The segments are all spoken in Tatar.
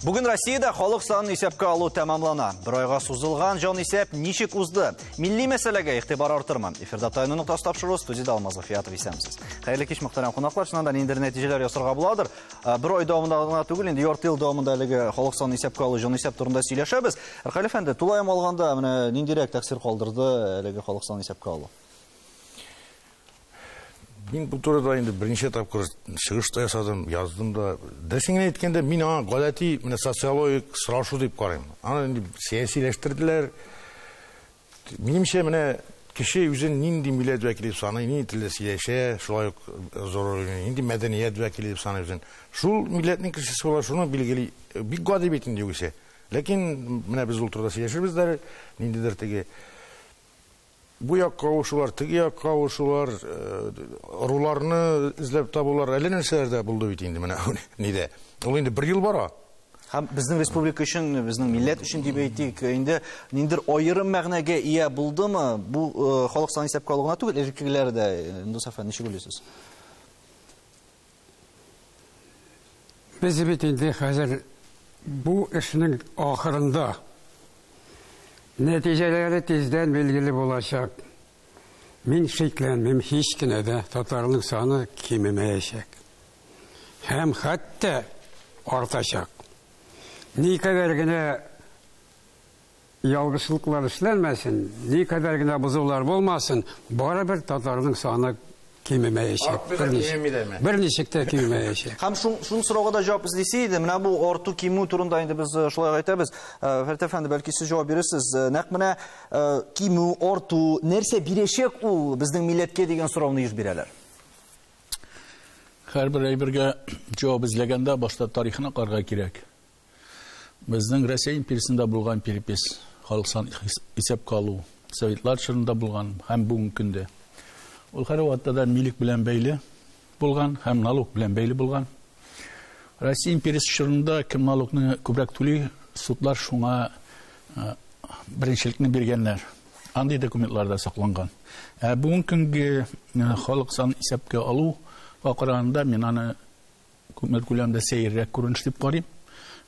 Бүгін Россияда халық санын исәпкә алу тәмамлана. Бір айга сузылган жан исәп ничек узды? Милли мәсьәләгә игътибар артырмы? Эфирда тайны ноктасы тапшыру студияда Алмаз Гыфиятов исәмсез. Хәерле кич мөхтәрәм кунаклар, шуннан да ниндер нәтиҗәләр ясарга буладыр. Бер ай дәвамында гына түгел, инде ярты ел дәвамында әлеге халык санын исәпкә алу, жан исәп турында сөйләшәбез. Ркаль әфәнде, тулаем алганда, менә ниндирәк тәэсир калдырды әлеге халык санын исәпкә алу? Мин бу турыда инде берничә тапкыр чыгыш та ясадым, яздым да. Дөресен генә әйткәндә, мин аңа гадәти менә социологик сорашу дип карыйм. Аны инде сәясиләштерделәр. Минемчә, менә кеше үзен нинди милләт вәкиле дип саный, нинди телдә сөйләшә, шулай ук зур нинди мәдәният вәкиле дип саный үзен. Шул милләтнең кешесе була, шуны билгели. Бик гади бит инде югыйсә. Ләкин менә без ул турыда сөйләшербез дә, ниндидер теге бу якка авышулар, теге якка авышулар, ыруларны эзләп табулар, әллә нәрсәләр дә булды бит инде менә нидә. Ул инде бер ел бара. Һәм безнең республика өчен, безнең милләт өчен дип әйтик, инде ниндер аерым мәгънәгә ия булдымы? Бу э, халык саны исәпкә алу гына түгел, элеккегеләр дә, Индус әфәнде, ничек уйлыйсыз? Без бит инде хәзер бу эшнең ахырында. Нәтиҗәләре тиздән билгеле булачак. Мин шикләнмим, һич кенә дә татарның саны кимемәячәк. һәм хәтта артачак. Никадәр генә ялгышлыклар эшләнмәсен, никадәр генә бозулар булмасын, барыбер татарның саны кимемәячәк. Бер ничек тә кимемәячәк. Һәм шул шул сорауга да җавап эзлисе иде. Менә бу арту кимү турында инде без э, шулай әйтәбез. Э, Фәрит әфәнде, бәлки сез җавап бирерсез. Э, нәкъ менә кимү, арту нәрсә бирәчәк ул безнең милләткә дигән сорауны еш бирәләр. Һәрбер әйбергә җавап эзләгәндә башта тарихына карга кирәк. Безнең Россия империясендә булган перепис, халык сан исәп калу, советлар чорында булган һәм бүгенге көндә. Ул һәр вакытта да милек белән бәйле булган һәм налог белән бәйле булган. Россия империясе чорында кем налогны күбрәк түли, судлар шуңа беренчелекне биргәннәр. Андый документларда сакланган. Ә бүгенге көнге халык санын исәпкә алу акырында мин аны күпмер күләмдә сәеррәк күренеш дип карыйм.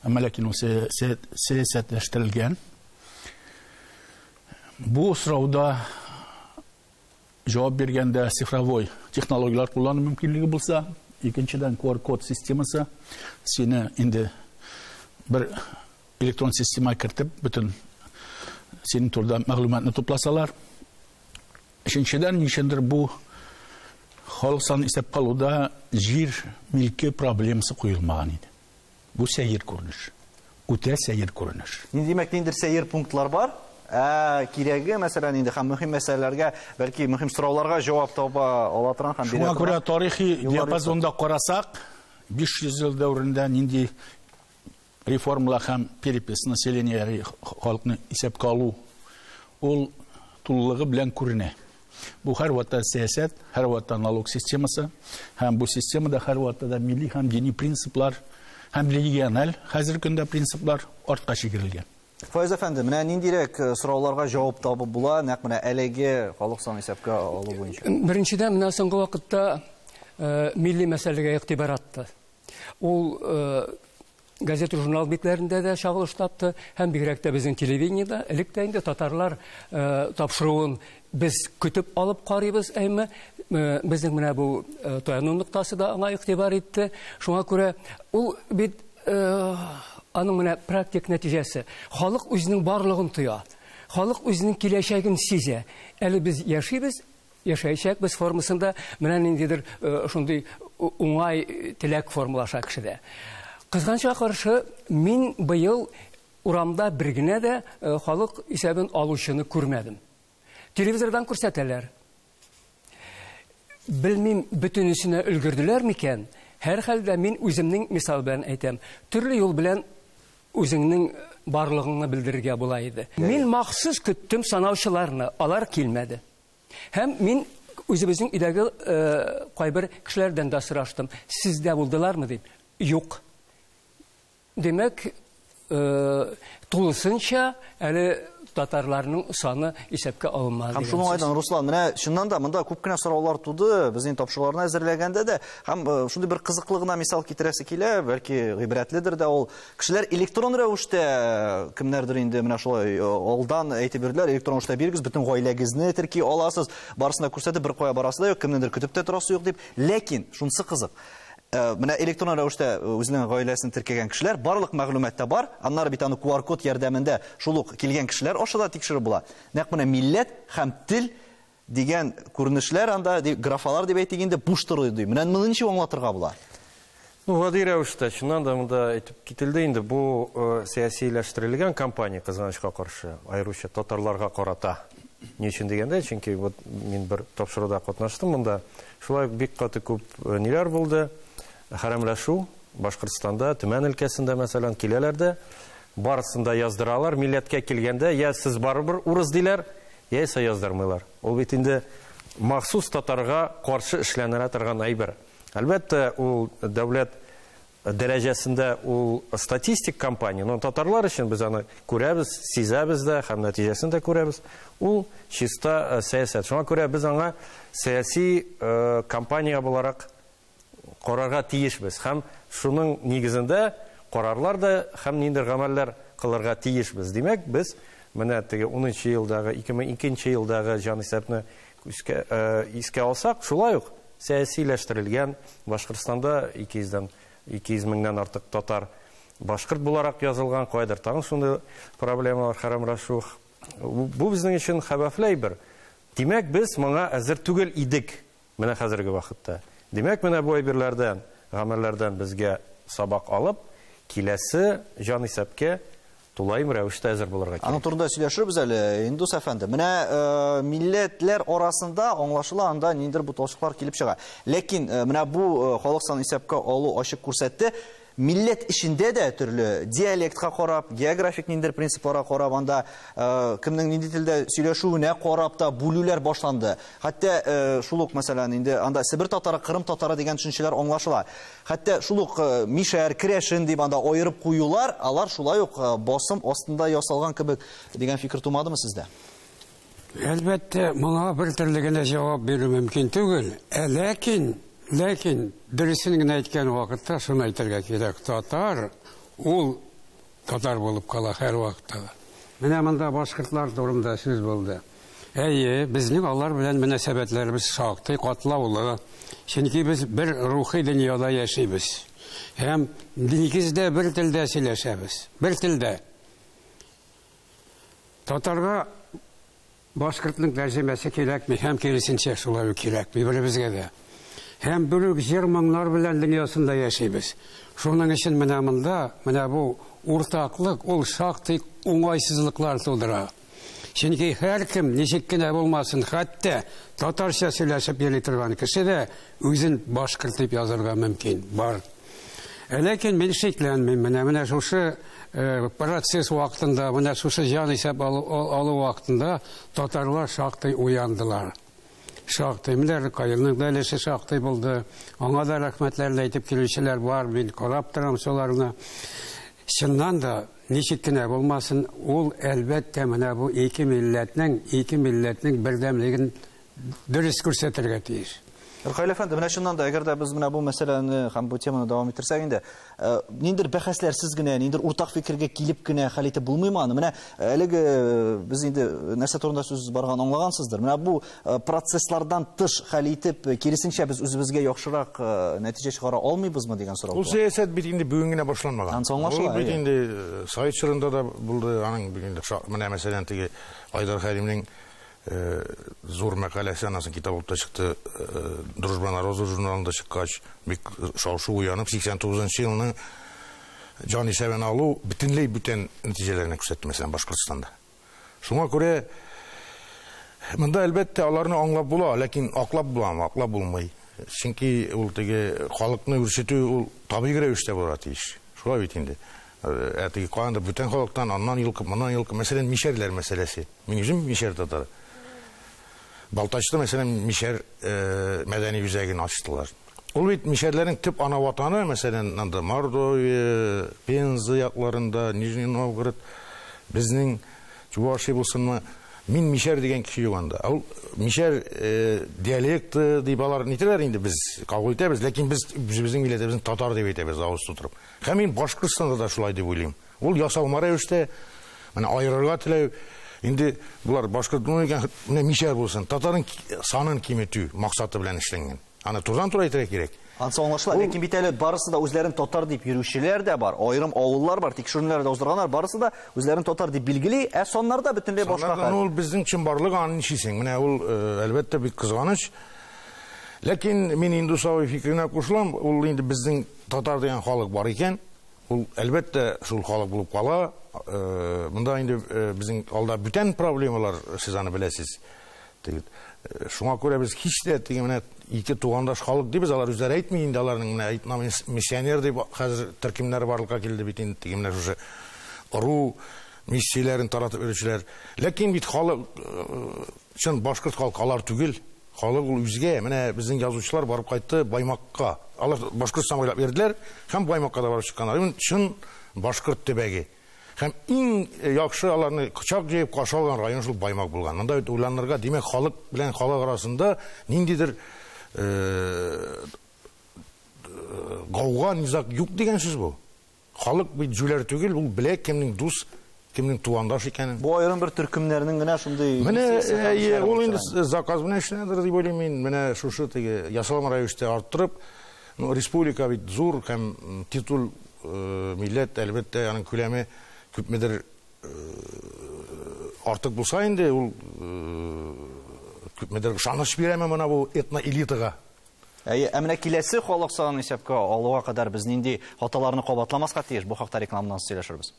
Әмма ләкин ул сәясәтләштерелгән. Бу срауда Җавап биргәндә цифровой технологияләр куллану мөмкинлеге булса, икенчедән QR-код системасы сине инде бер электрон система кертеп бөтен синең турда мәгълүматны тупласалар. Өченчедән ничендер бу халык санын исәпкә алуда җир милке проблемасы куелмаган иде. Бу сәер күренеш. Үтә сәер күренеш. Инде димәк, ниндидер сәер пунктлар бар. Ә кирәге, мәсәлән, инде һәм мөһим мәсьәләләргә, бәлки мөһим сорауларга җавап таба ала торган һәм бирә торган. Шуңа күрә тарихи диапазонда карасак, 500 ел дәверендә нинди реформалар һәм перепись населения, халыкны исәпкә алу, ул тулылыгы белән күренә. Бу һәрвакыт сәясәт, һәрвакыт налог системасы һәм бу системада һәрвакыт да милли һәм дини принциплар һәм региональ хәзер көндә принциплар артка чигерелгән. Файз әфәнде, менә ниндирәк э, сорауларга җавап табып була, нәкъ менә әлеге халык сан исәпкә алу буенча? Беренчедән, менә соңгы вакытта э, милли мәсьәләгә игътибар атты. Ул э, газета журнал битләрендә дә чагылыш тапты һәм бигрәк тә безнең телевидениедә элек тә инде татарлар э, тапшыруын без көтеп алып карыйбыз әйме э, безнең менә бу э, таяну ноктасы да аңа игътибар итте шуңа күрә ул бит э, аның менә практик нәтиҗәсе халык үзенең барлыгын тоя халык үзенең киләчәген сизә әле без яшибез Яшәячәкбез формасында менә ниндидер шундый уңай теләк формалаша кешедә. Кызганча каршы, мин быел урамда бер генә дә халык исәбен алучыны күрмәдем. Телевизордан күрсәтәләр. Белмим, бөтенесенә өлгерделәр микән? Һәрхәлдә мин үземнең мисал белән әйтәм. Төрле юл белән үзеңнең барлыгыңны белдерергә була иде. Мин махсус көттем санаучыларны, алар килмәде. Һәм мин үзебезнең өйдәге э, кайбер кешеләрдән дә сораштым, сездә булдылармы дип. Юк. Димәк, э, тулысынча әле татарларның саны исәпкә алынмады. Һәм шуның айдан Руслан, менә чыннан да монда күп кенә сораулар туды, безнең тапшыруларны әзерләгәндә дә, һәм э, шундый бер кызыклы гына мисал китерәсе килә, бәлки гыйбрәтледер дә ул. Кешеләр электрон рәвештә кемнәрдер инде менә шулай алдан әйтеп бирделәр, электрон рәвештә бирегез, бөтен гаиләгезне терки аласыз, барысына күрсәтеп, бер кая барасы да юк, кемнедер көтеп тә торасы юк дип. Ләкин шунысы кызык. Э, менә электрон рәвештә э, үзенең гаиләсен теркәгән кешеләр барлык мәгълүмат та бар аннары бит аны qr код ярдәмендә шул ук килгән кешеләр аша да тикшереп була нәкъ менә милләт һәм тел Дигән күренешләр анда, графалар дип әйтик инде, буш тору ди. Менә моны ничек аңлатырга була? Ну, гади рәвештә, чыннан да монда әйтеп кителде инде, бу э, сәясиләштерелгән кампания кызганычка каршы, аеруча татарларга карата. Ни өчен дигәндә, чөнки вот мин бер тапшыруда катнаштым монда. Шулай ук бик каты күп э, ниләр булды? Хәрәмләшү Башкортстанда, Төмән өлкәсендә, мәсәлән, киләләр дә, барысын да яздыралар. Милләткә килгәндә, я сез барыбер урыс диләр, Яисә яздырмыйлар. Ул бит инде махсус татарга каршы эшләнелә торган әйбер. Әлбәттә, ул дәүләт дәрәҗәсендә ул статистик кампания, но татарлар өчен без аны күрәбез, сизәбез дә һәм нәтиҗәсен дә күрәбез. Ул чиста э, сәясәт. Шуңа күрә без аңа сәяси э, кампания буларак карарга тиешбез һәм шуның нигезендә карарлар да һәм ниндидер гамәлләр кылырга тиешбез. Димәк, без менә теге унынчы елдагы, 2002 елдагы җанисәпне искә, э, искә алсак, шулай ук сәясиләштерелгән Башкортстанда 200 дән 200 меңнән артык татар башкорт буларак язылган, кайдыр тагын шундый проблемалар, хәрам рәшух. Бу безнең өчен хәвефле әйбер. Димәк, без моңа әзер түгел идек. Менә хәзерге вакытта. Димәк, менә бу әйберләрдән, гамәлләрдән безгә сабак алып, киләсе җанисәпкә тулаем рәвештә әзер булырга кирәк. Аның турында сөйләшербез әле, Индус әфәнде. Менә э, милләтләр арасында аңлашыла анда ниндер буталчыклар килеп чыга. Ләкин э, менә бу э, халык исәпкә алу ачык күрсәтте, Милләт эчендә дә төрле диалектка карап, географик ниндидер принципларга карап, анда кемнең нинди телдә сөйләшүенә карап та бүлүләр башланды. Хәтта шул ук, мәсәлән, инде анда Себер татары, Кырым татары дигән төшенчәләр аңлашыла. Хәтта шул ук мишәр, керәшен дип анда аерып куюлар, алар шулай ук басым астында ясалган кебек дигән фикер тумадымы сездә? Әлбәттә, моңа бер төрле генә җавап бирү мөмкин түгел. Ә ләкин, ләкин дөресен генә әйткән вакытта шуны әйтергә кирәк, татар ул татар булып кала һәрвакытта да. Менә монда башкортлар турында сүз булды. Әйе, безнең алар белән мөнәсәбәтләребез шактый катлаулы, чөнки без бер рухи дөньяда яшибез. Һәм нигездә бер телдә сөйләшәбез, бер телдә. Татарга башкортның тәрҗемәсе кирәкми һәм киресенчә шулай ук кирәкми беребезгә дә. Һәм бер үк җыр-моңнар белән дөньясында яшибез. Шуның өчен менә монда, менә бу уртаклык ул шактый уңайсызлыклар тудыра. Чөнки һәркем, ничек кенә булмасын, хәтта татарча сөйләшеп йөри торган кеше дә үзен башкорт дип язырга мөмкин. Бар. Ә ләкин мин шикләнмим, менә менә шушы э, процесс вакытында, менә шушы җан исәп алу, алу вакытында татарлар шактый уяндылар. Шактый, менә Рыкаилның да өлеше шактый булды. Аңа да рәхмәтләрен әйтеп килүчеләр бар, мин карап торам шуларны. Чыннан да ничек кенә булмасын, ул әлбәттә менә бу ике милләтнең, ике милләтнең бердәмлеген дөрес күрсәтергә тиеш. Рухаил әфәнде, менә чыннан да, әгәр дә без менә бу мәсьәләне һәм бу теманы дәвам иттерсәк инде, э, ниндер бәхәсләрсез генә, ниндер уртак фикергә килеп кенә хәл итеп булмыймы аны? Менә э, әлеге э, без инде нәрсә турында сүз барган аңлагансыздыр. Менә бу процесслардан тыш хәл итеп, киресенчә без үзебезгә яхшырак нәтиҗә чыгара алмыйбызмы дигән сорау. Ул сәясәт бит инде бүген генә башланмаган. Ул бит инде Совет чорында да булды, аның инде менә мәсәлән теге Айдар Хәлимнең Э, зур мәкалә әсә анасы китап булып та чыкты э, дружба на розу журналында чыккач бик шау-шу уянып 89 елның җан исәбен алу бөтенләй бүтән нәтиҗәләрне күрсәтте мәсәлән башкортстанда шуңа күрә монда әлбәттә аларны аңлап була ләкин аклап буламы аклап булмый чөнки ул теге халыкны үрчетү ул табигый рәвештә булырга тиеш шулай бит инде Әти калганда бүтән халыктан аннан йолкып, моннан йолкып, мәсәлән, мишәрләр мәсьәләсе. Мин үзем мишәр татар. Балтачта, мәсәлән, мишәр э, мәдәни үзәген ачтылар. Ул бит мишәрләрнең төп ана ватаны, мәсәлән, анда Мордовия, Пенза якларында, Нижний Новгород, безнең Чувашия булсынмы, мин мишәр дигән кеше юк анда. Ул мишәр э, диалекты дип алар нитәләр инде без кабул итәбез, ләкин без үзебезнең милләтебезне татар дип әйтәбез авыз тутырып. Һәм мин Башкортстанда да шулай дип уйлыйм. Ул ясалма рәвештә менә аерырга теләү, инде болар башкорт ну икән, менә мишәр булсын, татарын санын киметү максаты белән эшләнгән. Аны турыдан-туры әйтергә кирәк. Ансы аңлашыла, ләкин бит әле барысы да үзләрен татар дип йөрүчеләр дә бар, аерым авыллар бар, тикшеренүләр дә уздырганнар, барысы да үзләрен татар дип билгели, ә саннарда бөтенләй башка хәл. Ул безнең чынбарлык, аны ничисең? Менә ул, э, әлбәттә, бик кызганыч. Ләкин мин Индусовой фикеренә кушылам, ул инде безнең Татар дигән халык бар икән, ул, әлбәттә, шул халык булып кала. Монда инде безнең алда бүтән проблемалар, сез аны беләсез. Шуңа күрә без һич тә теге менә ике тугандаш халык дибез, алар үзләре әйтми инде, аларның менә әйтмә миссионер дип хәзер төркемнәре барлыкка килде бит инде, теге менә шушы ыру миссияләрен таратып йөрүчеләр. Ләкин бит халык чын башкорт халкы алар түгел. Халык ул үзгә. Менә безнең язучылар барып кайтты Баймакка. Алар Башкортстан буйлап йөрделәр һәм Баймакка да барып чыкканнар. Ул чын башкорт төбәге. Һәм иң яхшы аларны кочак җәеп каршы алган район шул Баймак булган. Монда бит уйланырга, димәк, халык белән халык арасында ниндидер гауга, низаг юк дигән сүз бу. Халык бит җүләр түгел, ул белә кемнең дус, кемнең тугандаш икәнен. Бу аерым бер төркемнәрнең генә шундый Менә әйе, ул инде заказ белән эшләнәдер дип уйлыйм мин. Менә шушы теге ясалма рәвештә арттырып, ну, республика бит зур һәм титул милләт, әлбәттә, аның күләме күпмедер артык булса инде, ул күпмедер ышаныч бирәме менә бу этноэлитага? Әйе, ә менә киләсе халык санын исәпкә алуга кадәр без нинди хаталарны кабатламаска тиеш? Бу хакта рекламадан соң сөйләшербез.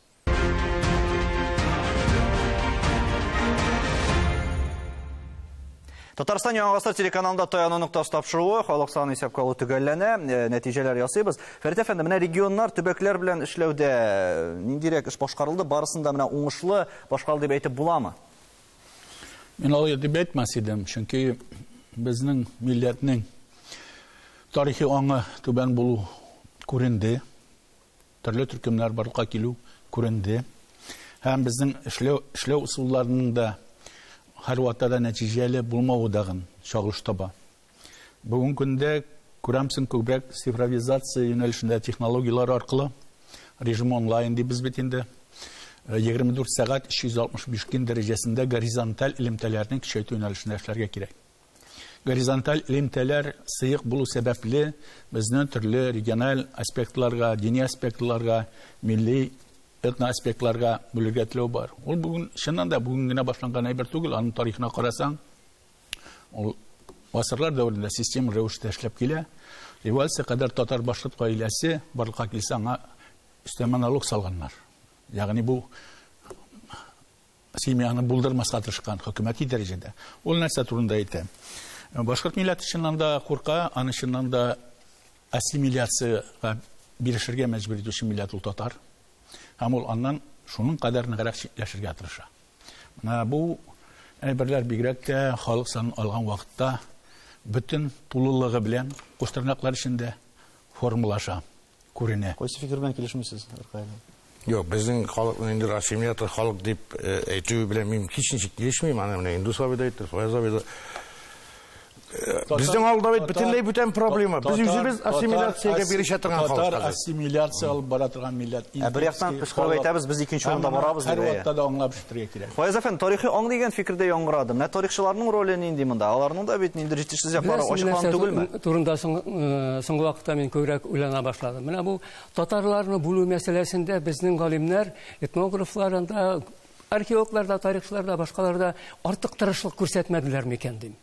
Татарстан Яңа Гасыр телеканалында Таяну ноктасы тапшыруы, халык саны исәпкә алу төгәлләнә, э, нәтиҗәләр ясыйбыз. Фәрит әфәнде, менә регионнар, төбәкләр белән эшләүдә э, ниндирәк эш башкарылды, барысында менә уңышлы башкарылды дип әйтеп буламы? Мин алай дип әйтмәс идем, чөнки безнең милләтнең тарихи аңы түбән булу күренде. Төрле төркемнәр барлыкка килү күренде. Һәм безнең эшләү эшләү усулларының да һәрвакытта да нәтиҗәле булмавы дагын чагылыш таба. Бүгенге көндә, күрәмсең, күбрәк цифровизация юнәлешендә технологияләр аркылы, режим онлайн дибез бит инде, 24 сәгать 365 көн дәрәҗәсендә горизонталь элемтәләрне көчәйтү юнәлешендә эшләргә кирәк. Горизонталь элемтәләр сыек булу сәбәпле, безне төрле региональ аспектларга, дини аспектларга, милли этноаспектларга бүлергә теләү бар. Ул бүген, чыннан да, бүген генә башланган әйбер түгел, аның тарихына карасаң, Ул гасырлар дәверендә системалы рәвештә эшләп килә. Революция кадәр татар-башкорт гаиләсе барлыкка килсә, аңа өстәмә налог салганнар. Ягъни бу семьяны булдырмаска тырышкан хөкүмәти дәрәҗәдә. Ул нәрсә турында әйтә? Башкорт милләте чыннан да курка, аны чыннан да ассимиляциягә бирешергә мәҗбүр итүче милләт ул татар. Һәм ул аннан шуның кадәр ныграк читләшергә тырыша. Менә бу әйберләр бигрәк тә халык санын алган вакытта бөтен тулылыгы белән, куштернаклар эчендә формалаша, күренә. Кайсы фикер белән килешмисез, Ркаилин? Юк, безнең халыкны инде ассимилятор халык дип әйтүе белән мин һичничек килешмим. Аны менә Индус абый да әйтте, Фаяз абый да. Безнең алда бит бөтенләй бүтән проблема. Без үзебез ассимиляциягә бирешә торган халык. Татар ассимиляция алып бара торган милләт. Ә бер яктан кычкырып әйтәбез, без икенче урында барабыз дип. Һәр вакытта да аңлап шүтергә кирәк. Фаяз әфән, тарихи аң дигән фикердә яңгырады. Менә тарихчыларның роле нинди монда? Аларның да бит нинди җитешсез яклары ачыклан түгелме? Турында соңгы вакытта мин күбрәк уйлана башладым. Менә бу татарларны бүлү мәсьәләсендә безнең галимнәр, этнографлар анда археологлар да, тарихчылар да, башкалар да артык тырышлык күрсәтмәделәр микән дим.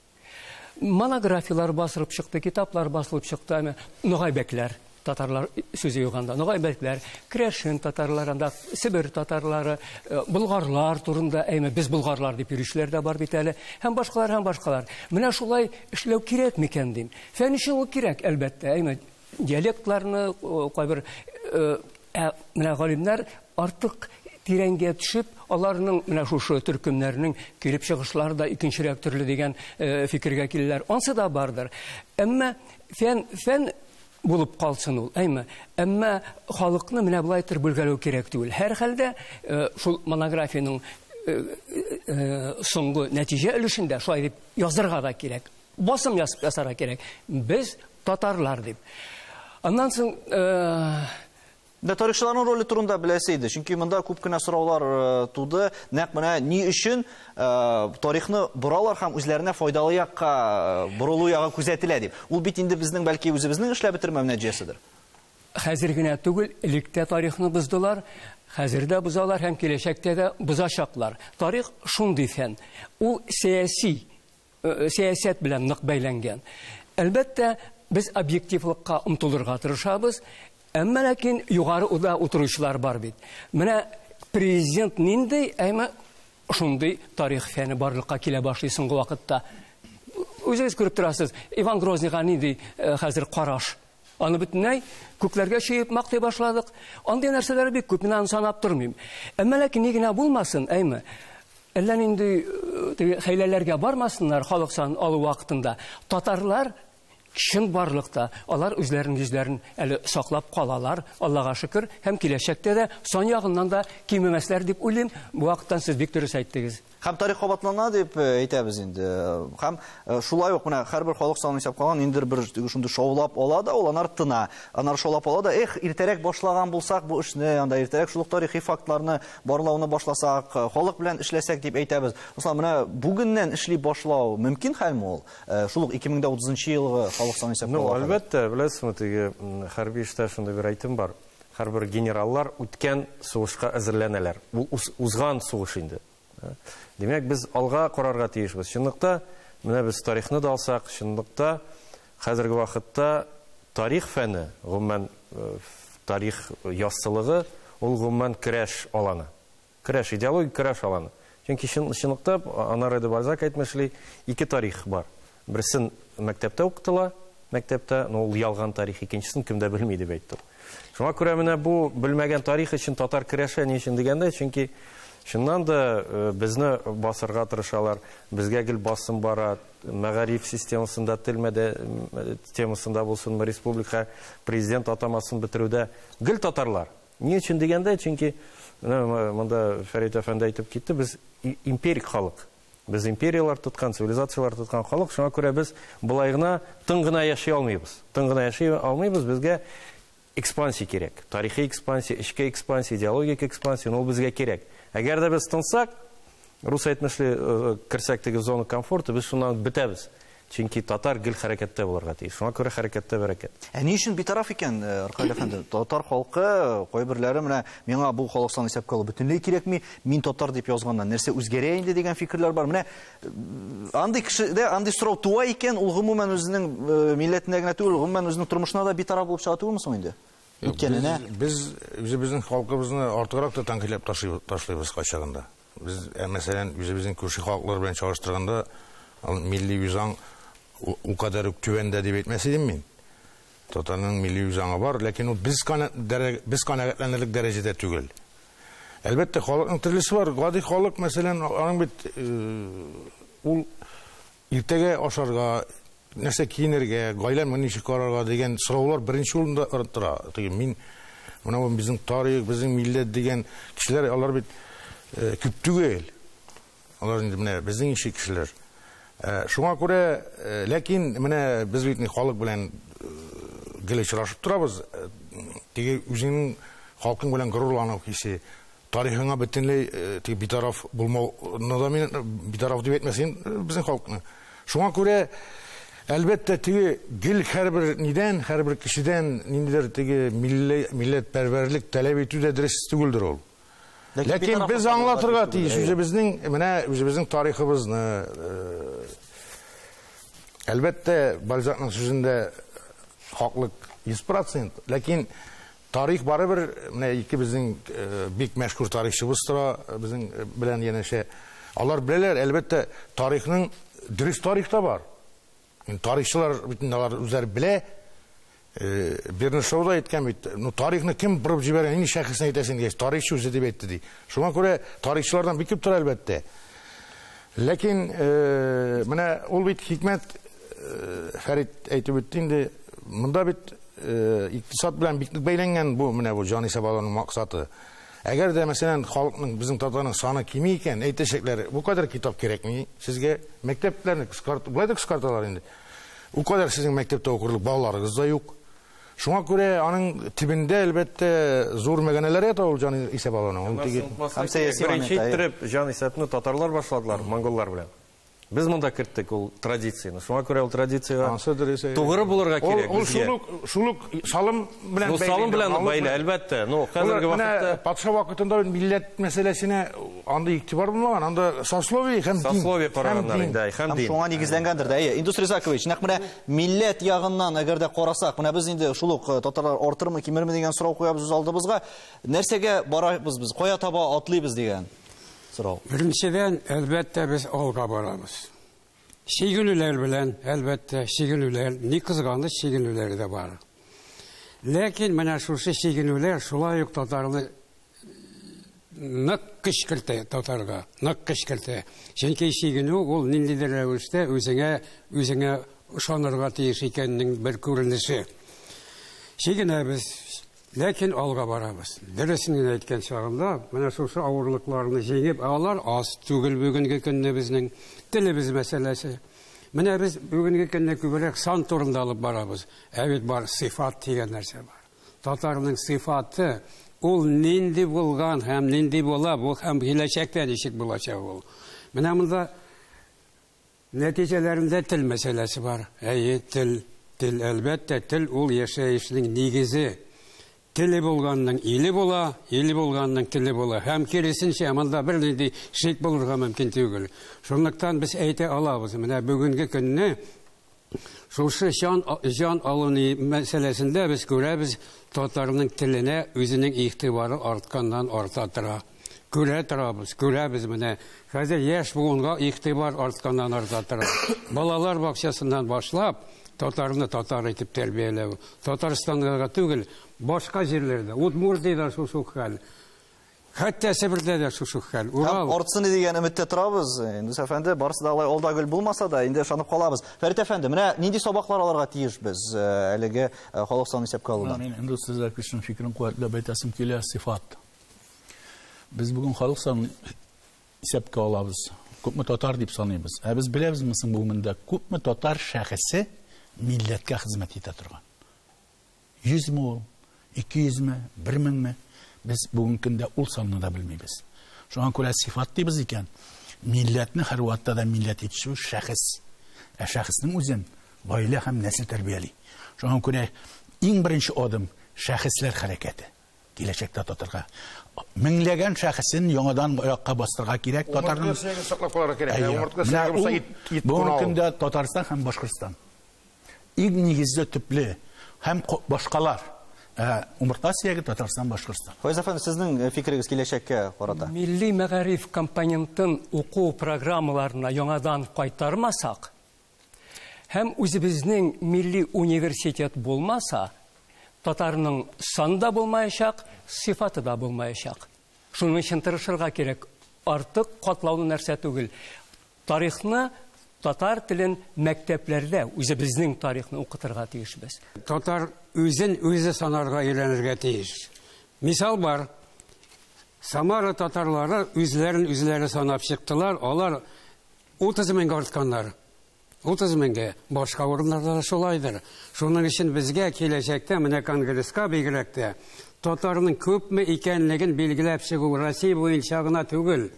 Монографияләр басылып чыкты, китаплар басылып чыкты, әмма ногайбәкләр татарлар сүзе юганда ногайбәкләр крәшин татарлар анда себер татарлары э, болгарлар турында әйме без болгарлар дип йөрүчеләр дә бар бит әле һәм башкалар һәм башкалар менә шулай эшләү кирәк микән дим фән өчен ул кирәк әлбәттә әйме диалектларны кайбер ә менә галимнәр артык тирәнгә төшеп, аларның менә шушы төркемнәрнең килеп чыгышлары да икенчерәк төрле дигән э, фикергә киләләр. Ансы да бардыр. Әмма фән фән булып калсын ул, әйме. Әмма халыкны менә болай төр бүлгәләү кирәк түгел. Һәр хәлдә э, шул монографиянең э, соңгы нәтиҗә өлешендә шулай дип язырга да кирәк. Басым ясарга кирәк. Без татарлар дип. Аннан соң Менә тарихчыларның роле турында беләсе иде, чөнки монда күп кенә сораулар э, туды. Нәкъ менә ни өчен э, тарихны боралар һәм үзләренә файдалы якка э, борылу ягы күзәтелә дип. Ул бит инде безнең бәлки үзебезнең эшләп бетермәү нәтиҗәседер. Хәзер генә түгел, электә тарихны боздылар, хәзер дә бозалар һәм киләчәктә дә бозачаклар. Тарих шундый фән. Ул сәяси сәясәт белән нык бәйләнгән. Әлбәттә, без объективлыкка омтылырга тырышабыз, әмма ләкин югары уда утыручылар бар бит. Менә президент нинди, әмма шундый тарих фәне барлыкка килә башлый соңгы вакытта. Үзегез күреп торасыз, Иван Грозныйга нинди э, хәзер караш? Аны бөтенләй күкләргә чөеп мактый башладык. Андый нәрсәләр бик күп, мин аны санап тормыйм. Әмма ләкин ни генә булмасын, әйме, әллә нинди э, хәйләләргә бармасыннар халык сан алу вакытында. Татарлар чын барлыкта алар үзләренең йөзләрен әле саклап калалар, Аллага шөкер, һәм киләчәктә дә сан ягыннан да кимемәсләр дип уйлыйм. Бу вакыттан сез бик дөрес әйттегез. Һәм тарих кабатлана дип э, әйтәбез инде. Һәм э, шулай ук менә һәрбер халык санын исәп калган ниндидер бер шундый шаулап ала да, ул анар тына. Анар шаулап ала да, эх, иртәрәк башлаган булсак бу эшне, анда иртәрәк шул тарихи фактларны барлауны башласак, э, халык белән эшләсәк дип әйтәбез. Мисал, менә бүгеннән эшли башлау мөмкин хәлме ул? Шул ук 2030 елгы халык санын исәп калган. Ну, әлбәттә, беләсезме, теге хәрби эштә шундый бер әйтем бар. Һәрбер генераллар үткән сугышка әзерләнәләр. Ул узган сугыш инде. Димәк, без алга карарга тиешбез. Чынлыкта, менә без тарихны да алсак, чынлыкта хәзерге вакытта тарих фәне, гомумән э, тарих яссылыгы, ул гомумән керәш аланы. Көрәш, идеологик көрәш аланы. Чөнки чын, чынлыкта, Анаре де Бальзак әйтмешли, ике тарих бар. Берсен мәктәптә укытыла, мәктәптә, но ул ялган тарих, икенчесен кем дә белми дип әйтте ул. Шуңа күрә менә бу белмәгән тарих өчен татар көрәшә ни өчен дигәндә, чөнки Чыннан да э, безне басырга тырышалар, безгә гел басым бара, мәгариф системасында, тел мәдә темасында булсынмы, республика президент атамасын бетерүдә гел татарлар. Ни өчен дигәндә, чөнки менә монда Фәрит әфәнде әйтеп китте, без империк халык. Без империяләр тоткан, цивилизацияләр тоткан халык, шуңа күрә без болай гына тын гына яши алмыйбыз. Тын гына яши алмыйбыз, безгә экспансия кирәк. Тарихи экспансия, эчке экспансия, идеологик экспансия, ну, ул безгә кирәк. Әгәр дә без тынсак, Рус әйтмешли, керсәк теге зона комфорта, без шуннан бетәбез. Чөнки татар гел хәрәкәттә булырга тиеш. Шуңа күрә хәрәкәттә бәрәкәт. Ә ни өчен битараф икән Аркаль әфәнде? Татар халкы кайберләре менә миңа бу халык санын исәпкә алу бөтенләй кирәкми, мин татар дип язганнан нәрсә үзгәрә инде дигән фикерләр бар. Менә андый кешедә андый сорау туа икән, ул гомумән үзенең милләтенә генә түгел, гомумән үзенең тормышына да битараф булып чыга түгелме соң инде? Үткәненә. Без үзебезнең халкыбызны артыграк та тәнкыйтьләп ташлыйбыз кайчагында. Без, мәсәлән, үзебезнең күрше халыклар белән чагыштырганда, милли үзаң ул кадәр үк түбәндә дип әйтмәс идем мин. Татарның милли үзаңы бар, ләкин ул без канәгатьләнерлек дәрәҗәдә түгел. Әлбәттә, халыкның төрлесе бар. Гади халык, мәсәлән, аның бит ул Иртәгә ашарга, нәрсә киенергә, гаиләмне ничек карарга дигән сораулар беренче урында тора. Теге мин менә бу безнең тарих, безнең милләт дигән кешеләр, алар бит э, күп түгел. Алар инде менә безнең ише кешеләр. Э, шуңа күрә, э, ләкин менә без бит халык белән гел очрашып торабыз. Теге үзеңнең халкың белән горурлану хисе, Тарихыңа бөтенләй теге битараф булмауны да мин битараф дип әйтмәсен безнең халыкны. Шуңа күрә Әлбәттә, теге гел һәрбер нидән, һәрбер кешедән ниндидер теге милли милләт пәрвәрлек таләп итү дә дөрес түгелдер ул. Ләкин без аңлатырга тиеш үзебезнең менә үзебезнең тарихыбызны. Э, әлбәттә, Бальзакның сүзендә хаклык 100%, ләкин Тарих барыбер менә ике безнең бик мәшһүр тарихчыбыз тора безнең белән янәшә. Алар беләләр, әлбәттә, тарихның дөрес тарих та бар. Тарихчылар бит инде алар үзләре белә. Бернишау да әйткән бит, ну тарихны кем борып җибәргән, нинди шәхесне әйтәсең дигәч, тарихчы үзе дип әйтте ди. Шуңа күрә тарихчылардан бик күп тора, әлбәттә. Ләкин менә ул бит хикмәт, Фәрит әйтеп үтте инде, монда бит икътисад белән бик нык бәйләнгән бу менә бу җан исәп алуның максаты. Әгәр дә, мәсәлән, халыкның, безнең татарның саны кими икән, әйтәчәкләр, бу кадәр китап кирәкми сезгә, мәктәпләрне кыскарт, болай да кыскарталар инде. Бу кадәр сезнең мәктәптә укырлык балаларыгыз да юк. Шуңа күрә аның төбендә, әлбәттә, зур мәгәнәләр ята ул җан исәп алуның. Ул теге Һәм сәяси беренче момент, әйе. иттереп җан исәпне татарлар башладылар монголлар белән. Без монда керттек ул традицияне. Шуңа күрә ул традициягә Ансы дөрес, әйе. тугры булырга Ул, кирәк ул безгә. шул ук, шул ук салым белән Ну, бәйле салым инде, белән налог бәйле, белән. әлбәттә. Ну, Ул хәзерге менә вакытта патша вакытында бит милләт мәсьәләсенә андый игътибар булмаган, анда сословие һәм дин. сословие Һәм караганнар дин. инде, әй, һәм Һәм дин. шуңа нигезләнгәндер дә. Әйе, Индус Ризакович, нәкъ менә Милләт ягыннан әгәр дә карасак, менә без инде шул ук э, татарлар артырмы, кимерме дигән сорау куябыз үз алдыбызга. Нәрсәгә барабыз без? Кая таба атлыйбыз дигән сорау. Беренчедән, әлбәттә, без алга барабыз. Чигенүләр белән, әлбәттә, чигенүләр, ни кызганыч чигенүләре дә бар. Ләкин менә шушы чигенүләр шулай ук татарны нык көч кертә татарга, нык көч кертә. Чөнки чигенү ул ниндидер рәвештә үзеңә үзеңә ышанырга тиеш икәннең бер күренеше. Чигенәбез, ләкин алга барабыз. Дөресен генә әйткән чагында, менә шушы авырлыкларны җиңеп, алар аз түгел бүгенге көнне безнең телебез мәсьәләсе. Менә без бүгенге көнне күбрәк сан турында алып барабыз, ә бит бар сыйфат дигән нәрсә бар. Татарның сыйфаты, ул нинди булган һәм нинди була бу һәм киләчәктә ничек булачак ул. Менә монда нәтиҗәләрендә тел мәсьәләсе бар. Әйе, тел, тел, әлбәттә, тел ул яшәешнең нигезе. Теле булганның иле була, иле булганның теле була. Һәм киресенчә, монда бер нинди шик булырга мөмкин түгел. Шунлыктан без әйтә алабыз, менә бүгенге көнне Шушы чан җан алу ни мәсьәләсендә без күрәбез, татарның теленә үзенең игътибары артканнан арта тора. Күрә торабыз, күрәбез менә. Хәзер яшь буынга игътибар артканнан арта тора. Балалар бакчасыннан башлап, татарны татар итеп тәрбияләү. Татарстанга гына түгел, башка җирләрдә, Удмуртиядә шушы ук хәл. Хәтта Себердә дә шушы хәл. Урал. Артсыны дигән өметтә торабыз. Нус әфәнде, барысы да алай алда гөл булмаса да, инде ышанып калабыз. Фәрит әфәнде, менә нинди сабаклар алырга тиеш без э, әлеге э, халык санын исәпкә алудан? Мин инде сүзләр көчен фикерен куәтләп әйтәсем килә, сифат. Без бүген халык санын исәпкә алабыз. Күпме татар дип саныйбыз. Ә без беләбезме соң бүгенге көндә күпме татар шәхесе милләткә хезмәт итә торган? Йөзме ул, ике йөзме, бер меңме? Без бүгенге көндә ул санны да белмибез. Шуңа күрә сыйфат дибез икән, милләтне һәрвакытта да милләт итүче шәхес. Ә шәхеснең үзен гаилә һәм нәсел тәрбияли. Шуңа күрә иң беренче адым шәхесләр хәрәкәте киләчәктә татарга меңләгән шәхесен яңадан аякка бастырырга кирәк татарның саклап калырга кирәк ә омыртка сәгәбе булса ит ит бүгенге көндә татарстан һәм башкортстан Иң нигезле төпле һәм башкалар. Ә умыртка сөяге Татарстан, Башкортстан. Файз әфәнде, сезнең э, фикерегез киләчәккә карата? Милли мәгариф компонентын уку программаларына яңадан кайтармасак һәм үзебезнең милли университет булмаса, татарның саны да булмаячак, сыйфаты да булмаячак. Шуның өчен тырышырга кирәк. Артык катлаулы нәрсә түгел. Тарихны, татар телен мәктәпләрдә үзебезнең тарихны укытырга тиешбез. Татар үзен үзе санарга өйрәнергә тиеш. Мисал бар. Самара татарлары үзләрен үзләре санап чыктылар, алар 30 меңгә артканнар. 30 меңгә. Башка урыннарда да шулайдыр. Шуның өчен безгә киләчәктә менә конгресска бигрәк тә татарның күпме икәнлеген билгеләп чыгу Россия буенча гына түгел,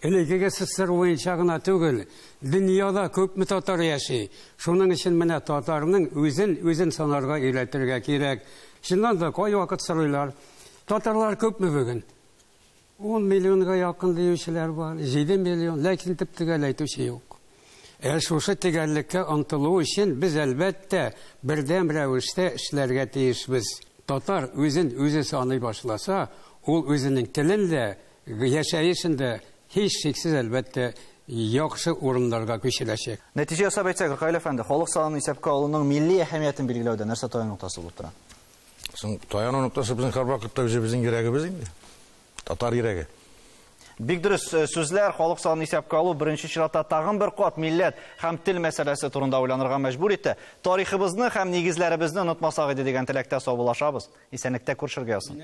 Элекеге ссср буенча гына түгел, дөньяда күпме татар яши. Шуның өчен менә татарның үзен үзен санарга өйрәтергә кирәк. Чыннан да, кайвакыт сорыйлар, Татарлар күпме бүген? Ун миллионга якын диючеләр бар, җиде миллион, ләкин төп-төгәл әйтүче юк. Ә шушы төгәллеккә омтылу өчен без, әлбәттә, бердәм рәвештә эшләргә тиешбез. Татар үзен үзе саный башласа, ул үзенең телен дә, Яшәешен дә, һичшиксез, әлбәттә, яхшы урыннарга күчерәчәк. Нәтиҗә ясап әйтсәк, Ркаил әфәнде, халык санын исәпкә алуның милли әһәмиятен билгеләүдә нәрсә таяну ноктасы булып тора? Соң, таяну ноктасы безнең һәрвакытта үзебезнең йөрәгебез инде. Татар йөрәге. Бик дөрес сүзләр, халык санын исәпкә алу беренче чиратта тагын бер кат милләт һәм тел мәсьәләсе турында уйланырга мәҗбүр итә. Тарихыбызны һәм нигезләребезне онытмасак иде дигән теләктә саубуллашабыз. Исәнлектә күршергә язсын.